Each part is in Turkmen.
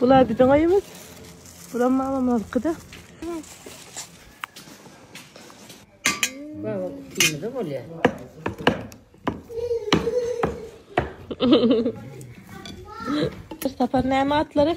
Bula biziň öýümiz. Bura mamam olkyda. Baba kutymyza bolýar. Bir sapar näme atlary?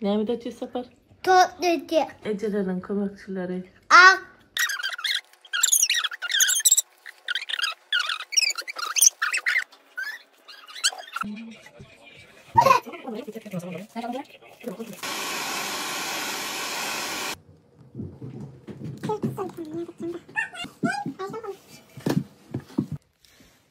Näme dötýär Sapar? Tot dötýär. Ejeleriniň kömekçileri. Ak.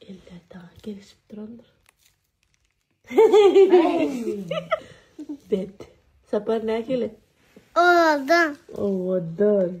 Eller daha gelişip durandyr. Bet. Sapar ne gele? Ovadan. Ovadan.